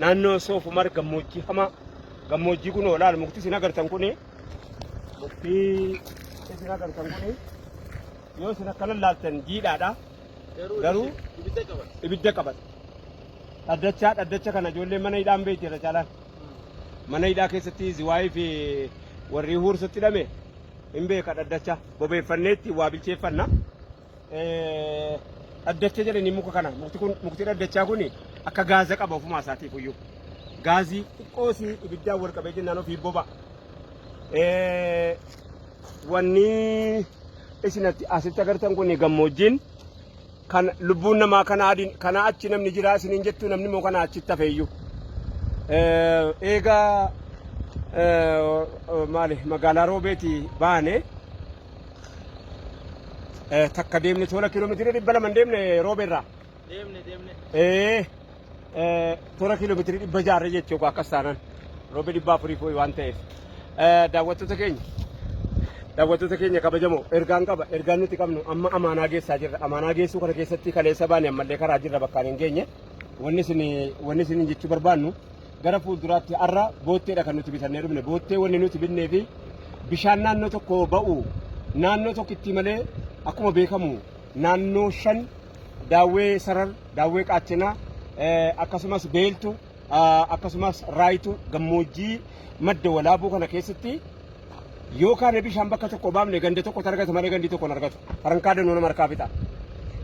Naannoo Soof Umar gammoojjii hamaa gammoojjii kun oolaal mukti isin agartan kuni mukti isin agartan kuni yoo isin akkana laaltan jiidhaadha garuu ibidda qabata. Dhaddachaa dhaddacha kana ijoolleen mana hidhaan beekti irra caalaan mana hidhaa keessatti ziwaayii fi warri huursutti hidhame hin beeka dhaddacha bobeeffanneetti waa bilcheeffanna. dhaddacha jedhanii muka kana mukti kun mukti dhaddachaa kun akka gaaza qaba ofumaa isaatiif iyyuu gaazii xiqqoo si ibiddaan wal qabee jennaan ofii boba wanni isin asitti agartan kun gammoojjiin kan lubbuun namaa kanaa adiin kanaa achi namni jiraa isiniin jettu namni immoo kanaa achitti hafeeyyu eegaa maali magaalaa roobeeti baane Eh, takka deemne tola kiiloomeetira dhibba lama hin deemne roobeerraa. Deemne deemne. Eh, eh, tola kiiloomeetira dhibba jaarra jechuu koo akkas taanaan roobe dhibba afurii fooyi waan ta'eef. Eh, daawwattoota keenya daawwattoota keenya kabajamoo ergaan qaba ergaan nuti qabnu amma amaanaa geessaa jirra amaanaa geessuu kana keessatti kaleessa baane ammallee karaa jirra bakkaan hin geenye wanni isin wanni isin jechuu barbaannu Gara fuulduraatti har'a bootteedha kan nuti bitannee dhufne. Boottee wanni nuti binnee fi bishaan naannoo tokko ba'u naannoo tokkitti malee akkuma beekamu naannoo shan daawwee sarar, daawwee qaachinaa akkasumas beeltu akkasumas raayitu gammoojjii madda walaabuu kana keessatti yoo kaane bishaan bakka tokko baafne ganda tokko argata malee gandi tokko hin argatu. Farankaa danuu nama harkaa fixa.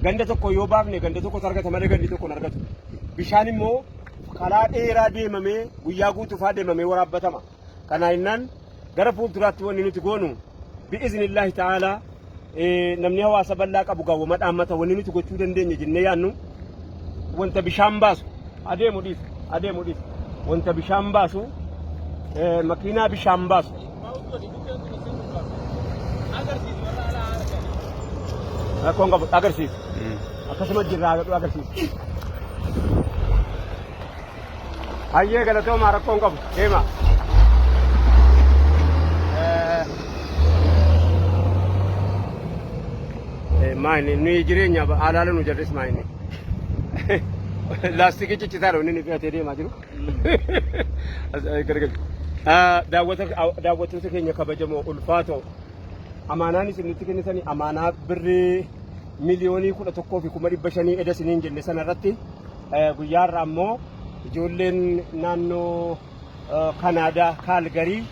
Ganda tokko yoo baafne ganda tokkotu argata malee gandi tokko hin argatu. Bishaan immoo karaa dheeraa deemamee guyyaa guutuu faa deemamee waraabbatama. Kanaa innaan gara fuulduraatti wanni nuti goonu bi'iznillaahi ta'aalaa namni hawaasa bal'aa qabu gaawwama dhaammata wanni nuti gochuu dandeenya jennee yaannu wanta bishaan baasu adeemu dhiis adeemu dhiis wanta bishaan baasu eh, makiinaa bishaan baasu rakkoon qabu agarsiisu akkasuma jirraa agarsiisu. Hayyee galatoomaa rakkoon qabu deema. Maayini nuyi jireenya haalaala nu jarris maayini. Laastikii ciccitaadha inni nuti fe'atee deemaa jiru. Daawwattoota keenya kabajamoo ulfaatoo amaanaan isin nutti kennitanii amaanaa birrii miliyoonii kudha tokkoo fi kuma dhibba shanii eda isiniin jenne sana irratti Guyyaa har'aa immoo ijoolleen naannoo Kanaadaa Kaalgarii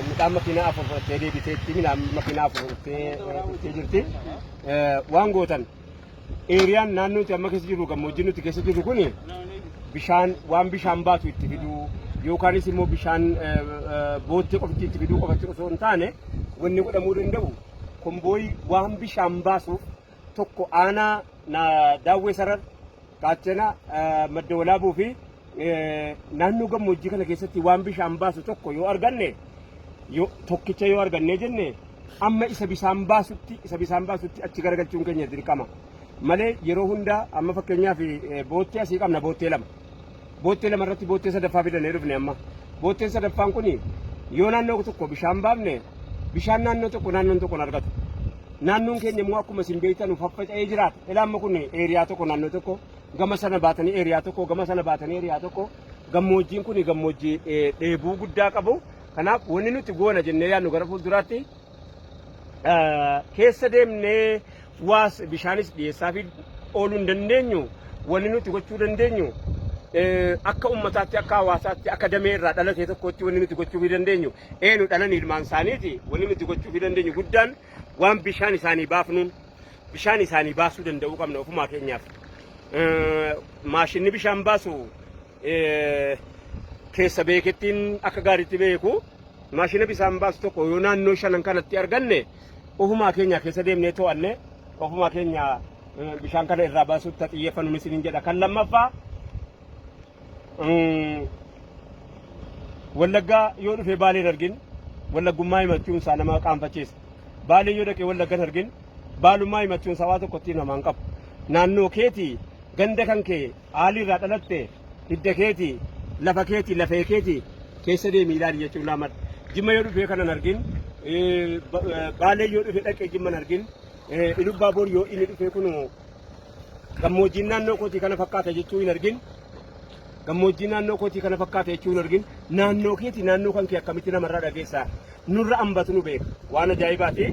midhaan makiinaa afur fudhattee deebiteetti midhaan makiinaa afur fudhattee dhuftee jirti. Waan gootan eeriyaan naannoo nuti amma keessa jirru gammoojjii nuti keessa jirru kun bishaan waan bishaan baatu itti fiduu yookaanis immoo bishaan boottee qofatti itti fiduu qofatti osoo hin taane wanni godhamuu danda'u kombooyi waan bishaan baasuuf tokko aanaa na daawwee sarar qaachana madda walaabuu fi naannoo gammoojjii kana keessatti waan bishaan baasu tokko yoo arganne yoo- tokkicha yoo argannee jenne amma isa bishaan baasutti isa bishaan baasutti achi garagalchuun keenya dirqama malee yeroo hundaa amma fakkeenyaaf eh, boottee asii qabna boottee lama Boottee lama irratti boottee sadaffaa fidannee dhufne amma. Bootteen sadaffaan kun yoo naannoo tokko bishaan baafne bishaan naannoo tokko naannoon tokko argatu. Naannoon keenya immoo akkuma isin beektan nu faffaca'ee jiraata. Ilaamma kun eeriyaa tokko naannoo tokko gama sana baatanii eeriyaa tokko gama sana baatanii eeriyaa tokko gammoojjiin kun gammoojjii eh, dheebuu guddaa qabu. Kanaaf wanni nuti goona jennee yaadnu gara fuulduraatti keessa deemnee waas bishaanis dhiyeessaafii ooluu hin dandeenyu wanni nuti gochuu dandeenyu akka ummataatti akka hawaasaatti akka damee irraa dhalatee tokkotti wanni nuti gochuu fi dandeenyu eenu dhalan ilmaan isaaniiti wanni nuti gochuu fi dandeenyu guddaan waan bishaan isaanii baafnuun bishaan isaanii baasuu danda'uu qabna ofumaa keenyaaf maashinni bishaan baasu keessa beekettiin akka gaariitti beeku maashina bisaan baasu tokko yoo naannoo shanan kanatti arganne ofumaa keenya keessa deemnee to'anne ofumaa keenya bishaan kana irraa baasuuf ta xiyyeeffannu isiniin jedha kan lammaffaa wallaggaa yoo dhufee baaleen argin wallaggummaa himachuun isaa nama qaanfachiisa baalee yoo dhaqee wallaggan argin baalummaa himachuun isaa waa tokko ittiin namaan qabu naannoo keetii ganda kan kee Qaali irraa dhalatte hidda keeti lafa keeti lafee keeti keessa deemi ilaali jechuun laamadha. Jimma yoo dhufee kanan argin baalee yoo dhufee dhaqee jimman argin ilubbaa bor yoo inni dhufee kun gammoojjiin naannoo kootii kana fakkaata jechuu hin argin gammoojjii naannoo kootii kana fakkaata jechuu hin argin naannoo keeti naannoo kan kee akkamitti namarraa dhageessaa nurra ambatu nu beeka waan ajaa'ibaati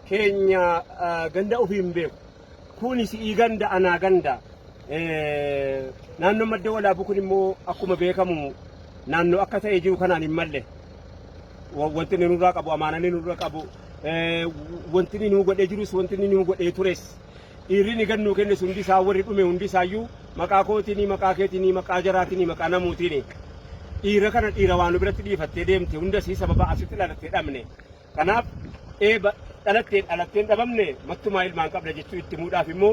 keenya ganda ofii hin beeku. Kuni si'ii ganda anaa ganda. Naannoon madda walaabuu kun immoo akkuma beekamu naannoo akka ta'e jiru kanaan hin malle. Wanti inni nurraa qabu amaanaan inni nurra qabu wanti inni nuu godhee jirus wanti inni nuu godhee tures dhiirri inni gannuu kennes hundi isaa warri dhume hundi isaayyuu maqaa kootiinii maqaa keetiinii maqaa jaraatinii maqaa namuutiinii dhiira kana dhiira waan biratti dhiifattee deemte hunda isii sababa asitti dhalattee dhabne. Kanaaf eeba dhalattee dhalattee hin dhabamne mattumaa ilmaan qabda jechuu itti himuudhaaf immoo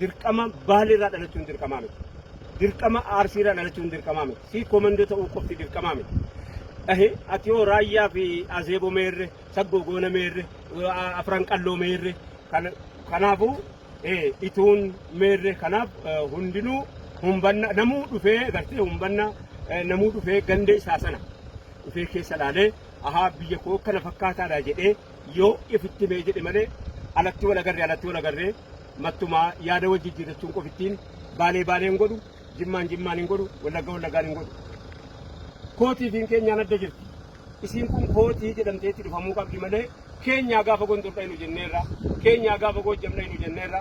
dirqama Baale irraa dhalachuun dirqamaa miti. Dirqama Arsii irraa dhalachuun dirqamaa miti. Sii komandoo ta'uu qofti dirqamaa miti. Ahe, ati yoo raayyaa fi azeebo meerre, saggoo goona meerre, a- afran qalloo meerre, kan- kanaafuu eh, ituun meerre, kanaaf eh, hundinuu humbanna, namuu dhufee gartee humbanna, eh, namuu dhufee ganda isaa sana dhufee keessa laalee Ahaab biyya koo kana fakkaataadha jedhee yoo ifitti himee jedhe malee alatti wal agarree alatti wal agarree mattumaa yaada wal jijjiirrachuun qofittiin baalee baalee hin godhu jimmaan jimmaan hin godhu wallagga wallaggaan hin godhu. Kootii fi keenyaan adda jirti. Isiin kun kootii jedhamtee itti dhufamuu qabdi malee keenyaa gaafa gondor dhaynu jenneerra keenyaa gaafa goojjam dhaynu jenneerra